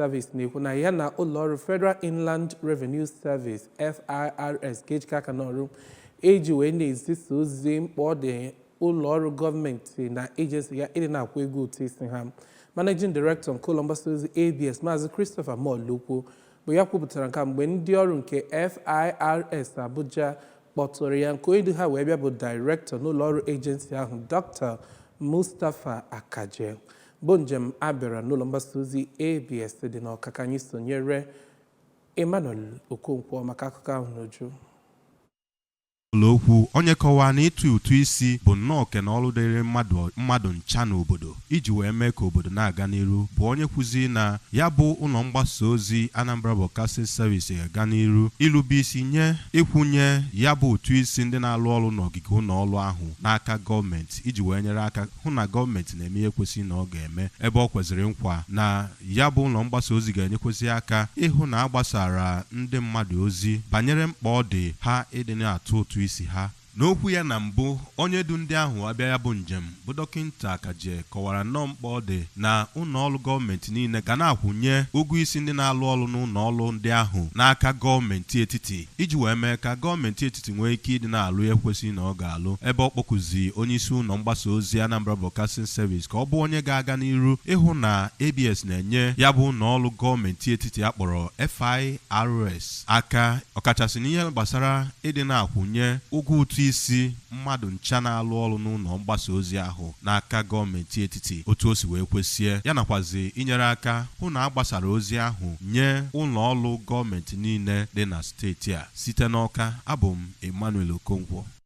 Service na-ekwu na ya na ụlọọrụ Federal Inland Revenue Service FIRS ga-ejikọ aka n'ọrụ iji wee na-ezisa ozi mkpa ọ dị ụlọọrụ gọọmenti na ejensi ya ịdị na-akwụ ego ụtụ isi ha managing director nke ụlọ mgbasa ozi abs maazị christopher molokwu bụ ya kwupụtara nke a mgbe ndị ọrụ nke firs abuja kpọtụrụ ya nke onye du ha wee bịa bụ director n'ụlọọrụ ejensi ahụ dr mustapha akaje bụ njem a bịara n'ụlọ mgbasa ozi abs dị n'ọka ka anyị sonyere emmanuel okonkwo maka akụkọ ahụ n'uju molokwu onye kọwaa na ịtụ ụtụ isi bụ nnọọ oke na ọrụ dịrị mmadụ ncha n'obodo iji wee mee ka obodo na-aga n'iru bụ onye kwuzi na ya bụ ụlọ mgbasa ozi Anambra Broadcasting Service ga-aga n'iru ilube isi nye ịkwụnye ya bụ ụtụ isi ndị na-alụ ọrụ n'ogige ụlọ ọrụ ahụ n'aka gọọmenti iji wee nyere aka hụ na gọọmenti na-eme ihe kwesịrị na ọ ga-eme ebe o kwezịrị nkwa na ya bụ ụlọ mgbasa ozi ga-enyekwesị aka ịhụ na a gbasaara ndị mmadụ ozi banyere mkpa ọ dị ha ịdị na-atụ ụtụ isi ha N'okwu ya na mbụ, onye du ndị ahụ abịa ya bụ njem bụ Dọkịnta Akaje kọwara nnọọ mkpa ọ dị na ụlọọrụ gọọmenti niile ga na-akwụnye ụgwọ isi ndị na-alụ ọrụ n'ụlọọrụ ndị ahụ n'aka gọọmenti etiti iji wee mee ka gọọmenti etiti nwee ike ịdị na-alụ ihe kwesiri na ọ ga-alụ, ebe ọ kpọkuzị onyeisi ụlọ mgbasa ozi Anambra Broadcasting Service ka ọ bụ onye ga-aga n'iru ịhụ na ABS na-enye ya bụ ụlọ ọrụ gọọmenti etiti a kpọrọ FIRS aka ọkachasị n'ihe gbasara ịdị na-akwụnye ụgwọ ụtụ isi mmadụ ncha na-alụ ọrụ n'ụlọ mgbasa ozi ahụ n'aka gọọmenti etiti otu o si wee kwesie ya nakwazi inyere aka hụ na a gbasara ozi ahụ nye ụlọ ọrụ gọọmenti niile dị na steeti a site n'Awka abụ m Emmanuel Okonkwo